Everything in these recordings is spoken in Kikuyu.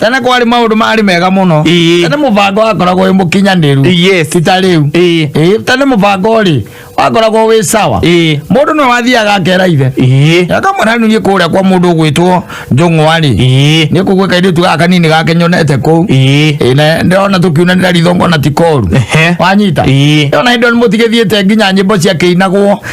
tene kwarĩ maũndũ marĩ mega mũno Ĩĩ. tene mũbango wakoragwo wĩ mũkinyanĩru Yes. ti ta rĩu Ĩĩ. Ĩĩ, tene mũbango rĩ wakoragwo wĩ sawa Ĩĩ. mũndũ nĩ wathiaga akera ithe Ĩĩ. akamwĩra niĩ kũrĩa kwa mũndũ ũgwĩtwo njũng'wa rĩ Ĩĩ. nĩ kũguo kairĩtu gaka kanini gake nyonete kũu Ĩĩ. Ĩĩ, na ndĩrona tũkiunanĩra ritho ngona ti koru Ehe. wanyita Ĩĩ. ona hĩndĩ ĩyo nĩ mũtigĩthiĩte nginya nyĩmbo ciakĩinagwo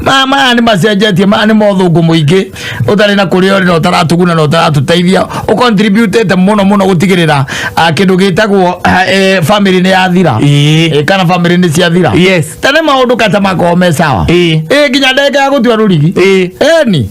Ma- maya nĩ macenjetie maya nĩ mothũngũ mũingĩ ũtarĩ na kũrĩa ũrĩ na ũtaratuguna na ũtaratũteithia ũcontributĩte mũno mũno gũtigĩrĩra ah, kĩndũ gĩtagwo ah, eh, family nĩ yathira Ĩĩ. Eh, kana family nĩ ciathira Yes. tene maũndũ kata makorwo me sawa Ĩĩ. Eh, nginya ndagĩka ya gũtua rũrigi Ĩĩ. eni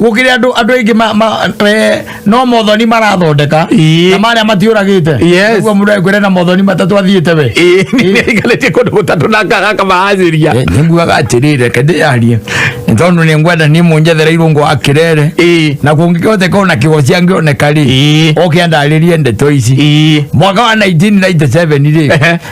gukire andu andu aingi ma, ma eh, no mothoni marathondeka Ii. na maria matiuragite Yes. Nĩguo mũndũ ekwĩre na mothoni matatu athiite we Ĩĩ, nĩaikarĩtie kũndũ gũtatũ na ngaga kamahacĩria Eh, nĩnguaga atĩrĩ reke ndĩyarie nĩ tondũ nĩ ngwenda niĩ mũnjethereirwo ngo akĩrere Ĩĩ. na kũngĩkĩhoteka ona kĩgo ciangĩoneka rĩ Ĩĩ. oke andarĩrie ndeto ici Ĩĩ. mwaka wa 1997 Ehe. rĩ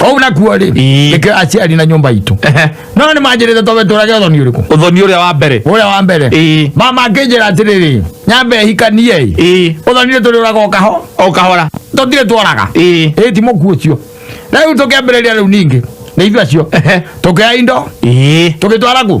Wau nakuo rĩ Ii. nĩkĩo aciari na nyũmba itũ Ehe. no nĩ manjĩrĩte tobe tũrage ũthoni ũrĩkũ uthoni uria wa mbere ũrĩa wa mbere Ii. mama akĩnjĩra atĩrĩrĩ nyambe hikanie ĩ Ii. ũthoni nĩ tũrĩũraga o kaho o kahora tũtirĩ tworaga Ii. ĩ ti mũkuo ũcio rĩu tũkĩambĩrĩria rĩu ningĩ nĩ ithuĩ acio Ehe. tũkĩoya indo Ii. tũgĩtwara kũ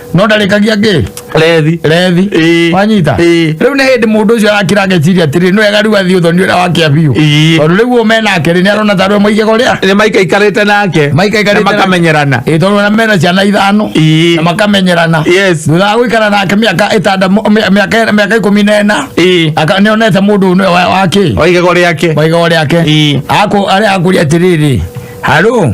no ndarĩkagia ngĩ rethi rethi Ĩĩ. wanyita Ĩĩ. rĩu nĩ hĩndĩ mũndũ ũcio arakira ageciria atĩrĩ nĩ wega rĩu athiĩ ũthoni ũrĩa wakĩa biũ Ĩĩ. tondũ rĩu ũũ me nake rĩ nĩ arona tarwe maigego rĩa nĩ maikaikarĩte nake Maikaikarĩte Na makamenyerana ĩ tondũ ona mena ciana ithano Ĩĩ. na makamenyerana Yes. thutha wa gũikara nake mĩaka ĩtanda mĩaka mĩaka ikũmi na ĩna Ĩĩ. aka- nĩ onete mũndũ ũyũ wa- wakĩ waigego rĩake maigego rĩake Ĩĩ. akũ arĩa akũria atĩrĩrĩ harũ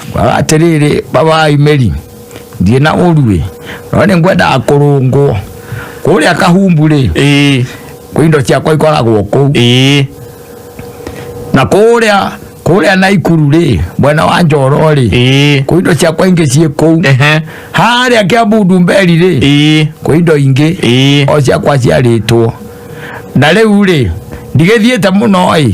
kwaga atĩrĩrĩ baba imeri ndirĩ na ũruĩ no nĩ ngwendaga kũrũngwo kũrĩa kahumbu rĩ ĩĩ kwĩ indo ciakwa ikoragwo kũu ĩĩ na kũrĩa kũrĩa naikuru rĩ mwena wa njoro rĩ ĩĩ kwĩ indo ciakwa ingĩ ciĩ kũu ehe harĩa kĩa mbundu mberi rĩ ĩĩ kwĩ indo ingĩ ĩĩ o ciakwa ciarĩtwo na rĩu rĩ ndigĩthiĩte mũno ĩ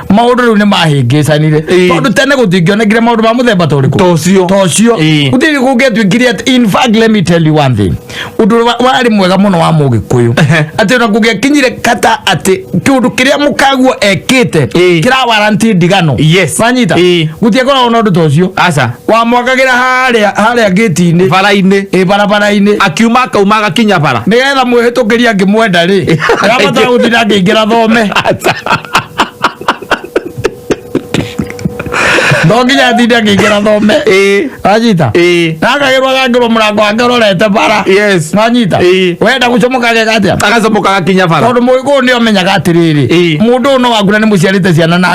maundu riu ni mahingicanire Ĩĩ. tondu tene gutingionekire maundu ma muthemba ta uriku Tocio. tocio Ĩĩ. gutiri gungiatuikire ati in fact let me tell you one thing undu wa- wari mwega muno wa mugikuyu Ehe. ati ona gungiakinyire kata ati kiundu kiria mukaguo ekite Ĩĩ. kira waranti ndigano Yes. wanyita Ĩĩ. gutiakoragwo na undu tocio aca wamwakagĩra harĩa harĩa ngĩti-inĩ bara-inĩ ĩ barabara-inĩ akiuma akauma agakinya bara nĩgetha mwĩhĩtũkĩria ngĩmwenda rĩ ndamata gũthira ngĩingĩra thome no nginya atinde ngĩingĩra thome Ĩĩ. anyita Ĩĩ. nakagĩrwo agangĩrwo mũrango wake ũrorete bara Yes. nanyita Ĩĩ. wenda gũcomoka geka atĩa agacomoka agakinya bara tondå må gä kå nä omenyaga atä rä Ĩĩ. rä må ndå å no waku na nä må ciarä te ciana na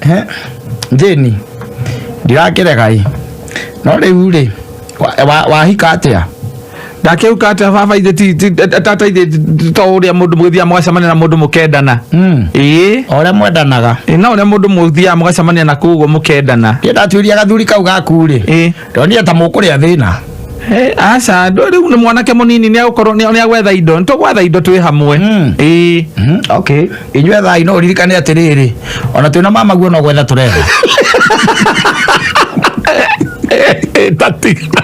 Eh, njĩni ndirakĩrega ĩ no rĩu rĩ wa- wa- wahika atĩa ndakĩuka ati baba ithe ti- ti- tata ithe to ũrĩa mũndũ mũgĩthiaga mũgacemania na mũndũ mũkendana Mm. ĩĩ o ũrĩa mwendanaga Ĩ, no ũrĩa mũndũ mũthiaga mũgacemania na koguo mũkendana kĩndatuĩria gathuri kau gaku rĩ ĩĩ ndonia ta mũkũrĩa thĩna Eh, aca ndũ- rĩu nĩ mwanake mũnini nĩ agũkorwo nĩ agwetha indo nĩ tũgwetha indo twĩ hamwe Mm. Ĩĩ. Mhm, okay inyuĩ thai no ũririkane atĩrĩrĩ ona twĩna mama guo no gwetha tũretha tatiga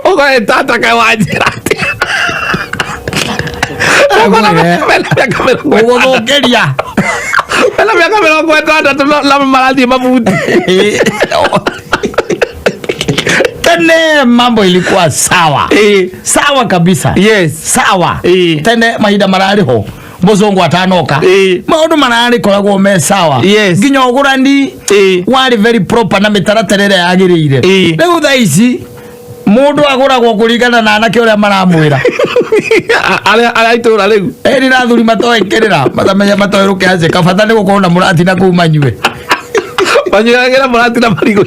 ũgoetataka wa njĩra ũgũthũkĩria mena mĩaka mĩrongo ĩtandatũ no- na marathiĩ mabuti tene mambo ilikuwa sawa Eh. sawa kabisa Yes. sawa Eh. tene mahinda mararĩ ho mũzungu atanoka Eh. maũndũ mararĩ koragwo me sawa Yes. nginya ũgũrani Eh. warĩ very proper na mĩtaratara ĩrĩa yagĩrĩire Eh. rĩu thaa ici mũndũ agũragwo kũringana na anake ũrĩa maramwĩra arĩa arĩa itũra rĩu ĩri na athuri matoĩkĩrĩra matamenya matoĩ rũkĩanjĩka bata nĩ gũkorwo na mũratina kuu manyue Banyu yake na marati na marigo.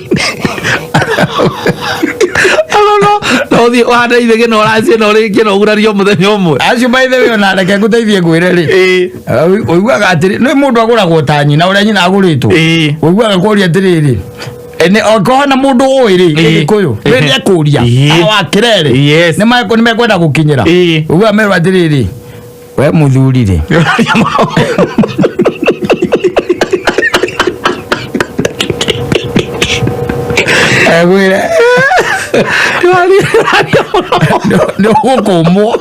Alo no, no thi wanda ithe gena oracie na uri gena ugurario muthenya umwe. Acio by the way ona reke nguteithie ngwire ri. Eh. Uiguaga atiri, ni mundu aguragwo ta nyina uria nyina aguritwo. Eh. Uiguaga kuria atiri ri. Ene okorwo na mundu uwi ri gikuyu ri ni akuria. Awa kirere. Ni mekwenda gukinyira. Uiguaga merwa atiri ri. we muthuri rĩ agwira nä gå kå mwo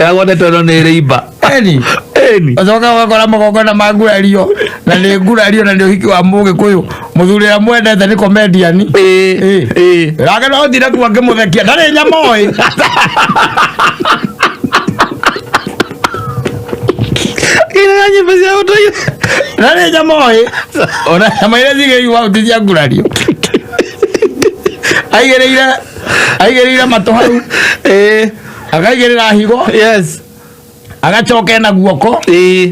agone tono nä rä imba eni eni acoka ũgakora magongona ma ngurario na nĩ ngurario na nĩ ũhiki wa mũgĩkũyũ muthuri ya mwendete ni comedian Eh, Eh. eh. rage no thire kuo ngimuthekia ndarĩ nyama oĩ Ina nyimbo cia ũndũire. ndarĩ nyama oĩ ona nyama iria cigĩigua hau ti cia ngurario aigĩrĩire aigĩrĩire matũ hau Eh, akaigĩrĩra higo yes. agacoka ena guoko Eh,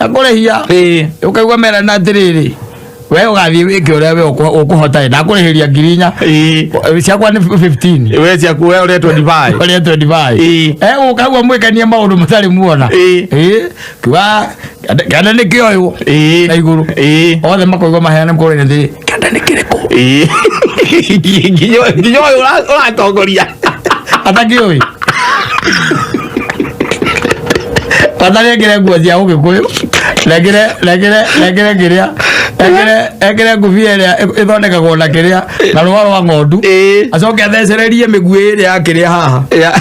na kũrĩhia Ĩĩ. ũkaigua mera na atĩrĩrĩ we ũgathiĩ wĩke ũrĩa we ũkũ- ũkũhota ĩ ndakũrĩhĩria ngiri inya Ĩĩ. Ũ- ciakwa nĩ 15 we ciaku we ũrĩa 25 ũrĩa 25 Ĩĩ. Eh, ũkaigua mwĩkanie maũndũ mũtarĩ muona Ĩĩ. Ĩĩ. kiuga kana nĩ kĩoywo Ĩĩ. na igũrũ Ĩĩ. othe makoigua maheane kũrĩa thĩ kĩanda nĩ kĩrĩkũ nginya ũyũ ũra- ũratongoria atakĩũĩ kwanza nengere nguo cia ũgĩkũyũ nengere nengere nengere kĩrĩa nengere nengere ngũbia ĩrĩa ĩ- ĩthondekagwo na kĩrĩa na rũa rwa ng'ondu Ĩĩ. acoke athecererie mĩguĩ ĩrĩa ya kĩrĩa haha Ya-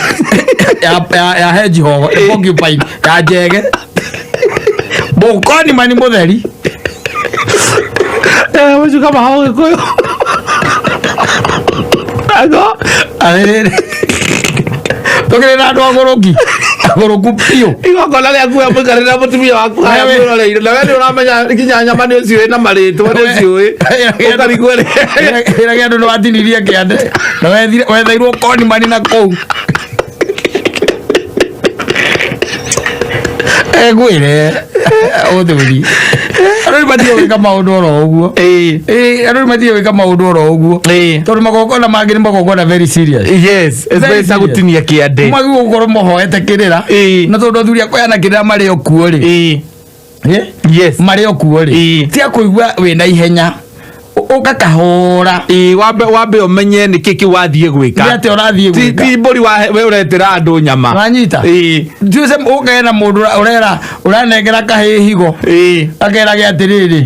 ya ya ya hedgehog ya porcupine ya njege Bokoni mani mutheri. Eh, ucio kama hao gikuyu. Ago. Arere. Tokire na andu agoroki. Agoroku pio. Igongona rĩa kuoya mũikare na mũtumia waku haya Wewe. mwĩroreire na we nĩ ũramenya nginya nyama nĩ ũciũĩ na marĩtwa nĩ ũciũĩ ũkarigwo rĩ Ira gä andå nä watinirie kä ande na wethairwo koni mani na kå u egwire uthuri andu ni matige gwika maundu oro uguo Eh, Eh, andu ni matige gwika maundu oro uguo eh. tondu magongona mangi ni magongona very serious yes Very especially serious. gutinia kiande mwagirwo gukorwo muhoete kirira Eh. na tondu athuri akoyana kirira mari o kuo ri Eh, Eh? Yes. marĩ o kuo rĩ Ĩĩ. cia kũigua wĩ na ihenya ũ- ũgakahũra Ĩĩ, wambe wambe ũmenye nĩ kĩkĩ wathiĩ nĩ gwĩka atĩ ũrathiĩ Ti- gwĩka ti mbũri wa- we ũretĩra andũ nyama wanyita Ĩĩ, juice ũkagĩa na mũndũ ũra- ũrera ũranengera kahĩ higo ĩĩ. akeraga atĩrĩrĩ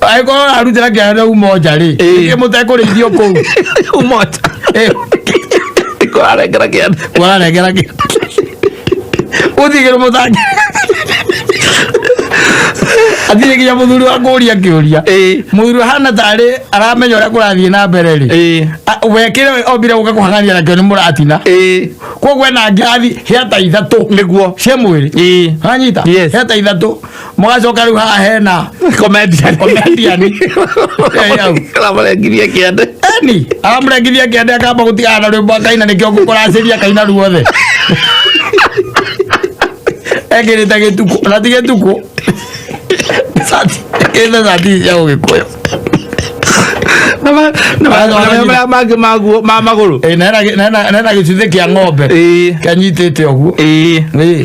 angĩkorwo ararutĩra kĩana na uma nja rĩ Ĩĩ. ĩngĩ mũtekũrĩithio kũu umoja Ĩĩ, kwarengera kianda warengera kĩ ũthigĩrĩ mũtangi athire nginya mũthuri wa kũria kĩũria Ĩĩ. mũthuri hana tarĩ aramenya ũrĩa kũrathiĩ na mbere rĩ Ĩĩ. A- wekĩre we ombire gũka kũhang'ania nakĩo nĩ mũratina Ĩĩ. koguo ena ngirathi hĩata ithatũ Nĩguo. cia mwĩrĩ Ĩĩ. wanyita Yes. hĩata ithatũ mũgacoka rĩu haha hena komedian komedian Eh, au. Aramũrengirie kĩande. Eni, aramũrengithia kĩande akamba gũtigana na rwĩmbo akaina nĩkĩo ngũkũracĩria akaina ruothe ekĩrĩte gĩtukũ na ti gĩtukũ Sati- ekĩrĩte sati cia ũgĩkũyũ Na ma- na ma- na marĩa marĩa mangĩ maguo ma magũrũ. Ĩ, na hena gĩ- na hena- na hena gĩcuthĩ kĩa ng'ombe Ĩĩ. kanyitĩte ũguo Ĩĩ. Ĩĩ.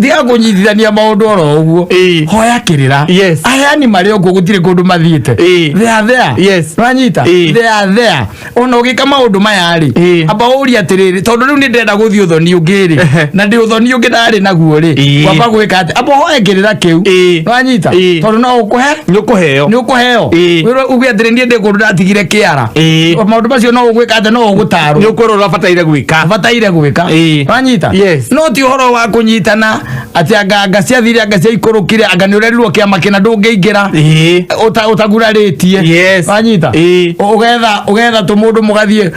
thiga kũnyitithania maũndũ oro ũguo Ĩĩ. hoya kĩrĩra Yes. ayani marĩ ũguo gũtirĩ kũndũ mathiĩte Ĩĩ. thea thea Yes. nĩwanyita Ĩĩ. thea thea ona ũgĩka maũndũ maya rĩ Ĩĩ. amba ũria atĩrĩrĩ tondũ rĩu nĩ ndĩrenda gũthiĩ ũthoni ũngĩ rĩ Ehe. na ndĩ ũthoni ũngĩ ndarĩ naguo rĩ Ĩĩ. kwamba gwĩka atĩ amba hoya kĩrĩra kĩu Ĩĩ. nĩwanyita Ĩĩ. tondũ no ũkũhe nä å kå heo nä å kå heo Ĩĩ. wä uge atä rä niä ndä kå ndå ndatigire kä ara Ĩĩ. maå ndå macio no å gwä ka atä no å gå tarwo nä å kwä rwo å rabataiire gwä ka bataire gwä ka Ĩĩ. wanyita Yes. no ti horo wa kunyitana ati anga anga ciathire anga ciaikurukire anga ni urerirwo kiama kina ndungiingira Ĩĩ. uta utaguraritie Yes. wanyita Ĩĩ. ugetha ugetha tu mundu mugathie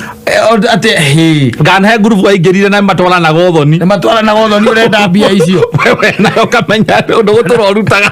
ati hi nganahe ngurubu aingĩrire na matwaranaga ũthoni nä matwaranaga å thoni å renda mbia icio wewe nayo kamenya å ndå gå tå rorutaga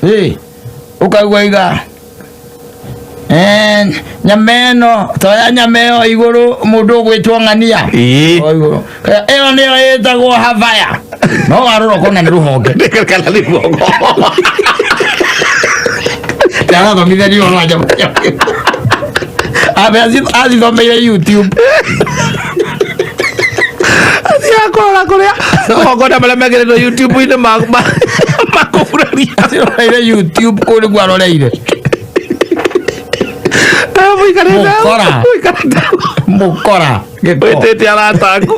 Hey, ukaigua iga Eh, nyama ĩno toya nyama ĩyo igũrũ mũndũ ũgwĩtwo ng'ania Ĩĩ. O igũrũ. Eh, ĩyo nĩyo ĩtagwo havaya no warora ũkona nĩ rũhonge kana nĩ guoko ndarathomithania ũhoro wa nyama abe azithomeire youtube akola kuria ogona maria megeretwo youtube-inĩ makũguraria roreire youtube kũu nĩguo aroreire mũkora mũkora wĩtĩte arataku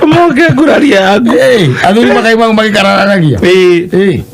moke nguraria yaku athuri makai mau magĩkararanagia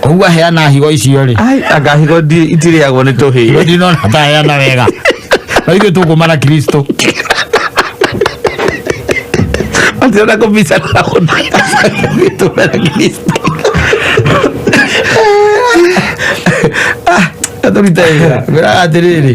koguo aheana higo icio rĩ ai anga higo ndi- itirĩagwo nĩ tũhĩĩ ndinona ataheana wega na ithuĩ tũkũma na kristo atirona kũbica na gũtũra na kristo atũrita wĩra wĩra atĩrĩrĩ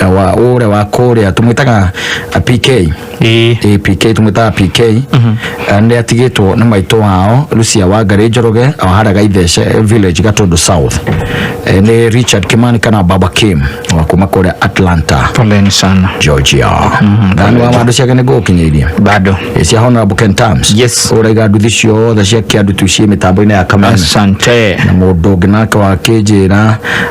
ya wa ule wa kuria tumwitaga a PK Ĩĩ. Ĩĩ, PK tumwitaga PK Eh, nĩ atigĩtwo nĩ maitũ wao Lucia Wangari Njoroge o harĩa Gaithece village Gatundu South Eh, nĩ Richard Kimani kana Baba Kim wa kuma kũrĩa Atlanta Poleni sana. Georgia thani wa wandu ciake nĩ ngũgũkinyĩirie Bado. Ĩ, cia honorable Ken Tams Yes. ũraiga nduthi ciothe cia kĩandu tu ciĩ mĩtambo-inĩ ya kamera Asante. na mũndũ ũngĩ nake wakĩnjĩra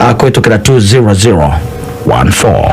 uh, kuhĩtũkĩra 20014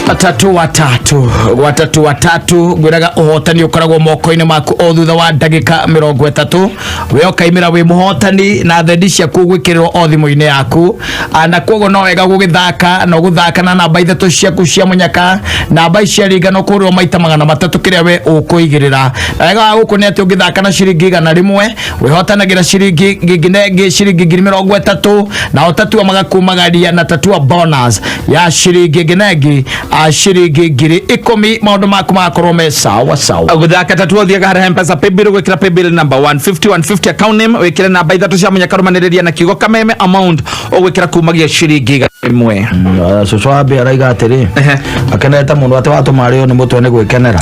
watatu watatu watatu watatu ngwiraga uhotani ukoragwo moko-inĩ maku o thutha wa ndagĩka mĩrongo ĩtatũ we ũkaimĩra wĩ mũhotani na thendi ciaku gwĩkĩrĩrwo o thimũ-inĩ yaku Ah, na koguo no wega gũgĩthaka na gũthaka na namba ithatũ ciaku cia mũnyaka namba ici ciaringana kũrĩo maita magana matatũ kĩrĩa we ũkũigĩrĩra na wega wa gũkũ nĩ atĩ ũngĩthaka na ciringi igana rĩmwe wihotanagĩra ciringi nginengi ciringi ngiri mĩrongo ĩtatũ na ũtatua magakumagaria na tatua bonus ya ciringi nginengi a ciringi ngiri ikũmi maũndũ maku magakorwo me sawa sawa guthaka tatu uthiaga harä mpesa paybill gwikira paybill number 150 150 account name wikire namba ithatu cia munyaka rumaniriria na kiugo kameme amount ũgwĩkĩra kumagia ciringi igana rĩmwe cucu wa mbia araiga atĩrĩ Ehe. akenete mũno atĩ watũma arĩo nĩ mũtwe nĩ gwĩkenera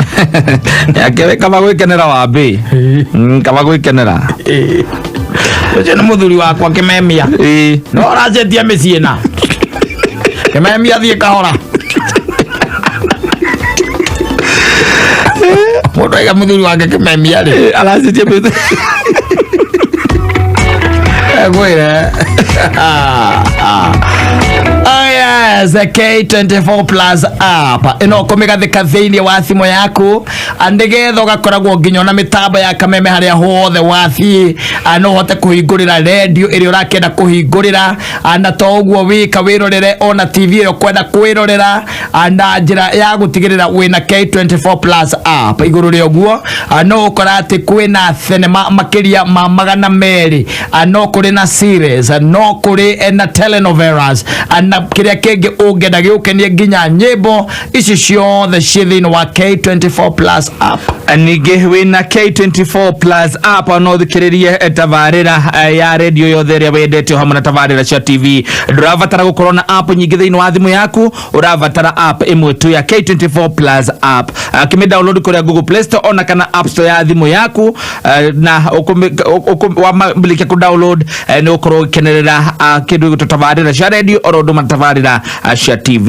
Ake- kaba gwĩkenera wa mbĩ Mm, kaba gwĩkenera ũcio nĩ mũthuri wakwa kĩmemia Ĩĩ. no ũracenjia mĩciĩ na kĩmemia thiĩ kahora mũndũ aiga mũthuri wake kĩmemia rĩ aracenjia mĩthe Agora. Oh yes, the K24 Plus app ino kumigathika thiini wa thimu yaku andigetha ugakoragwo nginya na mitambo ya kameme haria hothe wathii no uhote kuhingurira redio iri urakenda kuhingurira ana to ũguo wĩka wĩrorere ona tv ĩyo kwenda kwĩrorera ah, na njĩra ya gũtigĩrĩra wĩna k24 plus app igũrũ rĩa ũguo ah, no ũkora atĩ kwĩna thenema makĩria ma magana merĩ ah, no kũrĩ na series ah, no kũrĩ eh, na telenovelas ah, na kĩrĩa kĩngĩ ũngĩenda gĩũkenie nginya nyĩmbo ici ciothe ciĩ thĩinĩ wa k24 plus app ningĩ wĩna k24 plus app no thikĩrĩrie tabarĩra eh, ya redio yothe ĩrĩa wendete o hamwe na tabarĩra cia tv ndũrabatara gũkorwo na app nyingĩ thĩinĩ wa thimũ yaku ũrabatara app ĩmwe tu ya k24 plus app Ah, kĩmĩ download kũrĩa google play store ona kana app store ya thimũ yaku eh, na ũkũmĩ- ũkũ- ũkũ- wamĩrĩkia kũ download eh, nĩ ũkorwo ũgĩkenerera ah, kĩndũ gĩgũtũ tabarĩra cia redio oro ũndũ matabarĩra ah, cia tv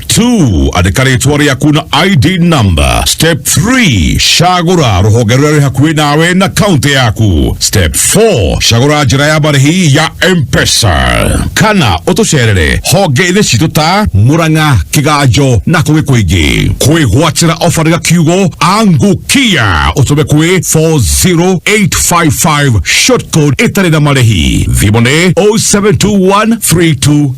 2 andĩka rĩtwa rĩaku na id number step 3 cagũra rũhonge rũrĩa rwĩ hakuhĩ nawe na kaunti yaku step 4 cagũra njĩra ya marĩhi ya mpesa kana ũtũcerere honge-inĩ citũ ta mũrang'a kĩganjo na kũngĩ kũingĩ kwĩgwatĩra ofa rĩga kiugo angukia ũtũme kwĩ 40855 shortcode ĩtarĩ na marĩhi thimũ nĩ 072132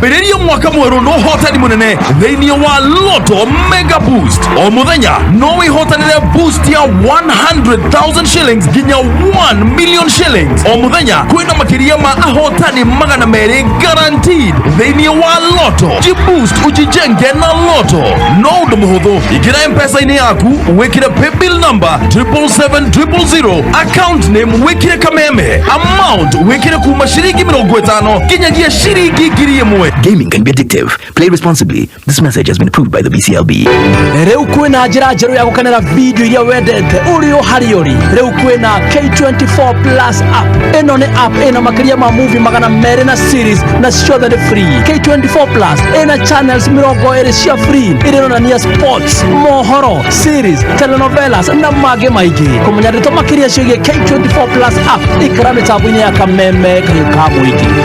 ambĩrĩria mwaka mwerũ na ũhotani mũnene thĩinĩ wa loto mega boost o mũthenya no wĩhotanĩre boost ya 100,000 shillings nginya 1 million shillings o mũthenya kwĩna makĩria ma ahotani magana merĩ guaranteed thĩinĩ wa loto jiboost ujijenge na loto no ũndũ mũhũthũ ingĩra mpesa-inĩ yaku wĩkĩre paybill number 77700 account name wĩkĩre kameme amount wĩkĩre kuma ciringi mĩrongo ĩtano nginyagia ciringi ngiri ĩmwe Gaming can be addictive. Play responsibly. This message has been approved by the BCLB. rĩu kwĩna njĩra njerũ ya gũkenera video iria wendete ũrĩ o harĩ ũrĩ rĩu kwĩna k24 plus app ĩno nĩ app ĩna makĩria ma movie magana merĩ na series na ciothe nĩ free k24 plus ĩna channels mĩrongo ĩrĩ cia free ĩrĩronania sports mohoro series telenovelas na mangĩ maingĩ kũmenya ndeto makĩria ciĩgiĩ k24 plus app ikara mĩtambo-inĩ ya kameme kahiũ ka mũingĩ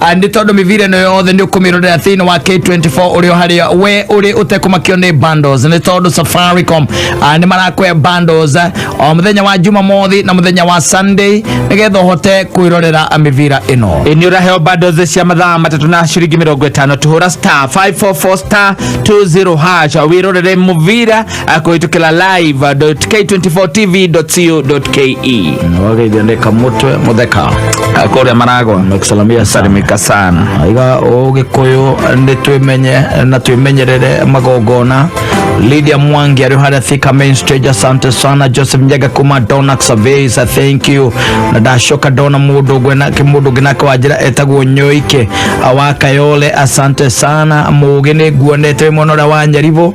Ah, nĩ tondũ mĩbira ĩno yothe nĩ ũkũmĩrorera thĩinĩ wa K24 ũrĩ o harĩa we ũrĩ ũtekũmakio nĩ bundles nĩ tondũ Safaricom ah, nĩ marakwe bundles ah, o mũthenya wa Jumamothi na mũthenya wa Sunday nĩgetha ũhote kwĩrorera ah, mĩbira ĩno nä å raheo bundles cia mathaa matatũ na ciringi mä rongo ä tano tå hå ra star 544 star 20 hash wä rorere må bira akuitukila live k24tv.co.ke wagithondeka mutwe mutheka kuria maragwa nakusalamia sana salimika sana iga ugikuyu ni twimenye na twimenyerere magongona Lydia Mwangi ariho harĩa Thika main stage asante sana Joseph Njaga kuma Donax Surveys thank you na ndacoka ndona mũndũ ũngwe na mũndũ ũngĩ nake wa njĩra etagwo Nyoike wa Kayole asante sana mũgĩ nĩ nguonete wĩ mwena ũrĩa wa Nyaribo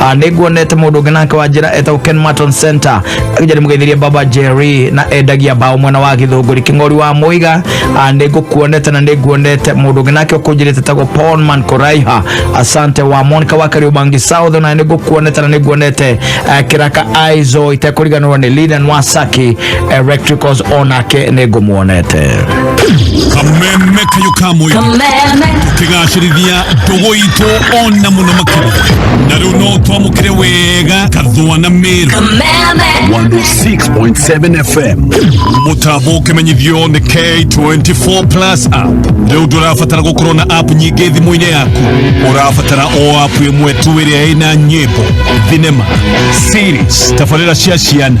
Ah, nĩnguonete mũndũ ũngĩ nake wa njĩra etagwo Ken Martin Center akĩnja nĩmũgeithirie baba Jerry na endagia mbaũ mwena wa gĩthũngũri kĩng'ori wa mũiga Ah, nĩngũkuonete na nĩnguonete mũndũ ũngĩ nake ũkũnjĩrĩte etagwo Paulman Koraiha asante wa Monica wa Kariubangi South na nĩngũkuonete na nĩnguonete eh, kĩraka Aizo itekũriganĩrwo nĩ Lidan Wasaki electricals onake nä ngå muonete kameme kayo ka mwĩrĩ Kameme. tũkĩgacĩrithia ndũgũ itũ ona mũno makĩria na rĩu no twamũkĩre wega kathũa na mĩrũ Kameme. 106.7 FM. mũtambo ũkĩmenyithio nĩ k24 plus app rĩu ndũrabatara gũkorwo na app nyingĩ thimũ-inĩ yaku ũrabatara o app ĩmwe tu ĩrĩa ĩna nyĩmbo thinema series tabarĩra cia ciana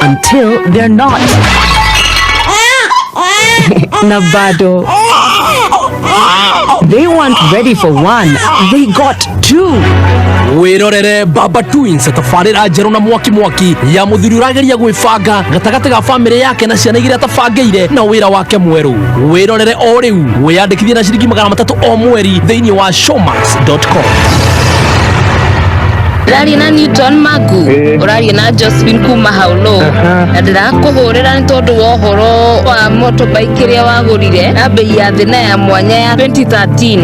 until they're not. Navado. They weren't ready for one, they got two. wirorere baba twins tabarĩra njerũ na mwaki mwaki ya mũthuri ũrageria gwĩbanga gatagatĩ ga bamĩrĩ yake na ciana iria atabangĩire na wĩra wake mwerũ wĩrorere o rĩu wĩyandĩkithie na ciringi magana matatũ o mweri thĩinĩ wa shoma Sports.com. ndĩraria na newton magu ũraria na josephine kuma haulo na ndĩrakũhũrĩra nĩ tondũ wa ũhoro wa motorbike ĩrĩa wagũrire na mbei ya thĩ na ya mwanya ya 2013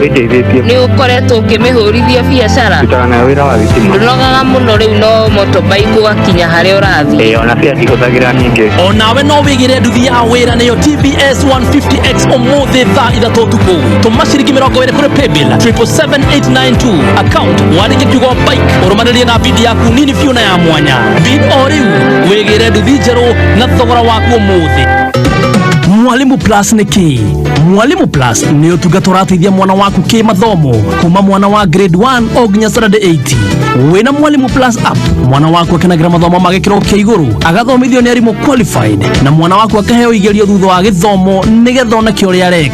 ĩndeithĩtie nĩ ũkoretwo ũkĩmĩhũrithia biacara ndutaga nayo wĩra wa thitima ndũnogaga mũno rĩu no motorbike ũgakinya harĩa ũrathiĩ ĩĩ ona cia ndihũthagĩra nyingĩ O nawe no wĩgĩre nduthi ya wĩra nĩyo TBS 150X ũmũthĩ thaa ithatũ ũtukũ. tuma ciringi mĩrongo ĩrĩ kũrĩ paybill 77892 account wandĩke kiugo bike ũrũmanĩrie na bid yaku nini biũ na ya mwanya bid o rĩu wĩgĩre nduthi njerũ na thogora waku ũmũthĩ Mwalimu Plus nĩ kĩ? Mwalimu Plus nĩ ũtungata ũrateithia mwana waku kĩmathomo kuma mwana wa grade 1 o nginya standard 8. Wĩna Mwalimu Plus app, mwana waku akenagĩra mathomo ma gĩkĩro kĩa igũrũ, agathomithio nĩ arimũ qualified, na mwana waku akaheo igerio thutha wa gĩthomo nĩgetha oneke ũrĩa areka.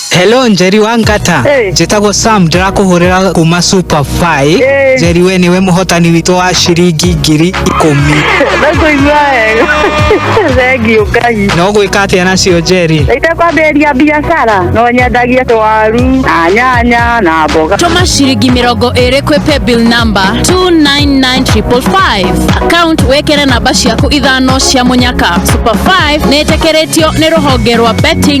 Hello Njeri wa Ngata Hey. njĩtagwo Sam ndĩrakũhũrĩra kuma Super Five Hey. Njeri we nĩwe mũhotani witũ wa ciringi ngiri ikũmi Ndakuigua wega. Thengiũ Ngai. na ũgwĩka atĩa nacio Njeri Itakwambĩrĩria biacara no nyendagie tũwaru na nyanya na mboga. tũma ciringi mĩrongo ĩrĩ kwĩ paybill number 299555 account wĩkĩre namba ciaku ithano cia mũnyaka super 5 nĩtĩkĩrĩtio nĩ rũhonge rwa betting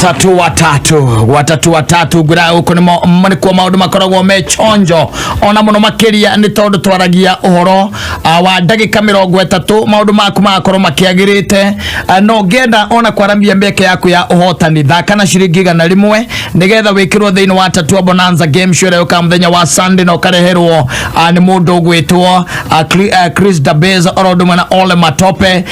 tatu watatu watatu watatu ngwira guku nimo nĩ kuo maũndũ makoragwo me chonjo ona mũno makĩria nĩ tondũ twaragia ũhoro ah, wa ndagĩka mĩrongo ĩtatũ maũndũ maku magakorwo makĩagĩrĩte Ah, no ngenda ona kwaramia mĩeke yaku ya ũhotani thaka na ciringi igana rĩmwe nĩgetha wĩkĩrwo thĩinĩ wa tatua bonanza game show ĩrĩa yũkaga mũthenya wa sunday na ũkareherwo ah, nĩ mũndũ ũgwĩtwo ah, Chri- ah, chris dabes oro ũndũ ũmwe na ole matope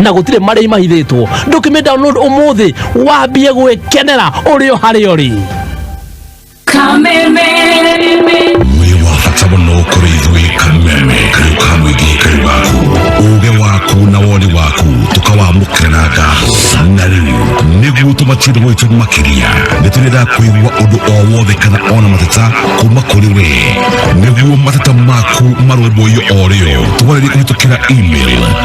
na gå tirä marä imahithätwo ndå kä mä download å må thä wambie gwä kenera å rä o harä o rä Kameme. wĩ wa bata mũno kũrĩ ithuĩ kameme kariũ ka mũingĩ kari waku ũũgĩ waku na woni waku tũkawamũkĩra na ngatho na rĩu nĩguo tũmatiĩre gwitũ makĩria nĩ tũrenda kũigua ũndũ o wothe kana ona mateta kuma kũrĩ we nĩguo mateta maku marũmbũiyo o rĩo tũwarĩrie kũhĩtũkĩra email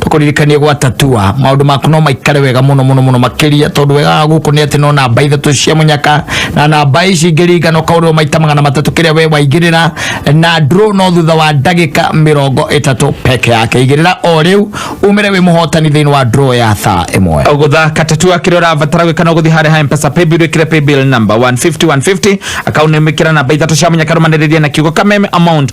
tũkũririkanie gwa tatua maũndũ maku no maikare wega mũno mũno mũno makĩria tondũ wega wa gũkũ nĩ atĩ no namba ithatũ cia mũnyaka na namba ici ingĩringana ũkaũrĩrwo maita magana matatũ kĩrĩa we waingĩrĩra na draw no thutha wa ndagĩka mĩrongo ĩtatũ peke yake igĩrĩra o rĩu umĩre wĩ mũhotani thĩinĩ wa draw ya thaa ĩmwe gũthaka tatu akĩrĩa ũrabatara gwĩka no gũthiĩ harĩa ha mpesa paybill wĩkĩre paybill number 150 150 akaunti nĩmĩkĩra namba ithatũ cia mũnyaka rũmanĩrĩria na kiugo kameme amount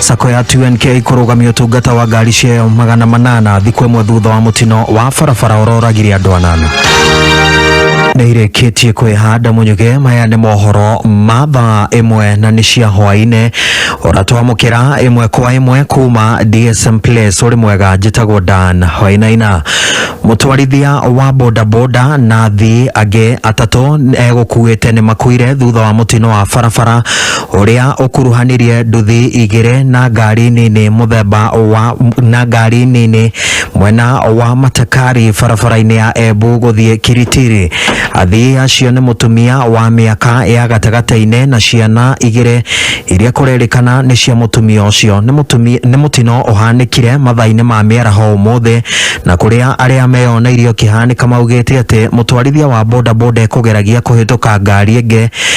sako ya 2NK kũrũgamia ũtungata wa ngari ciayo magana manana thikũ ĩmwe thutha wa mũtino wa barabara ũroragire andũ anana nĩ irĩkĩtie kwĩhanda mũnyuge maya nĩ mohoro ma thaa ĩmwe na nĩ cia hwaĩ-inĩ ũratwamũkĩra ĩmwe kwa ĩmwe kuma DSM Place ũrĩ mwega njĩtagwo Dan Wainaina mũtwarithia wa bodaboda na athii angĩ atatũ egũkuĩte nĩ makuire thutha wa mũtino wa barabara ũrĩa ũkuruhanirie nduthi igĩrĩ na ngari nini mũthemba wa na ngari nini mwena wa Matakari barabara-inĩ ya Embu gũthiĩ Kiritiri. Athii acio nĩ mũtumia wa mĩaka ya gatagatĩ-inĩ na ciana igĩrĩ iria kũrerĩkana nĩ cia mũtumia ũcio. Nĩ mũtumia nĩ mũtino ũhanĩkire mathaa-inĩ ma mĩaraho ũmũthĩ na kũrĩa arĩa meyoneirie ũkĩhanĩka maugĩte atĩ mũtwarithia wa bodaboda ekũgeragia kũhĩtũka ngari ĩngĩ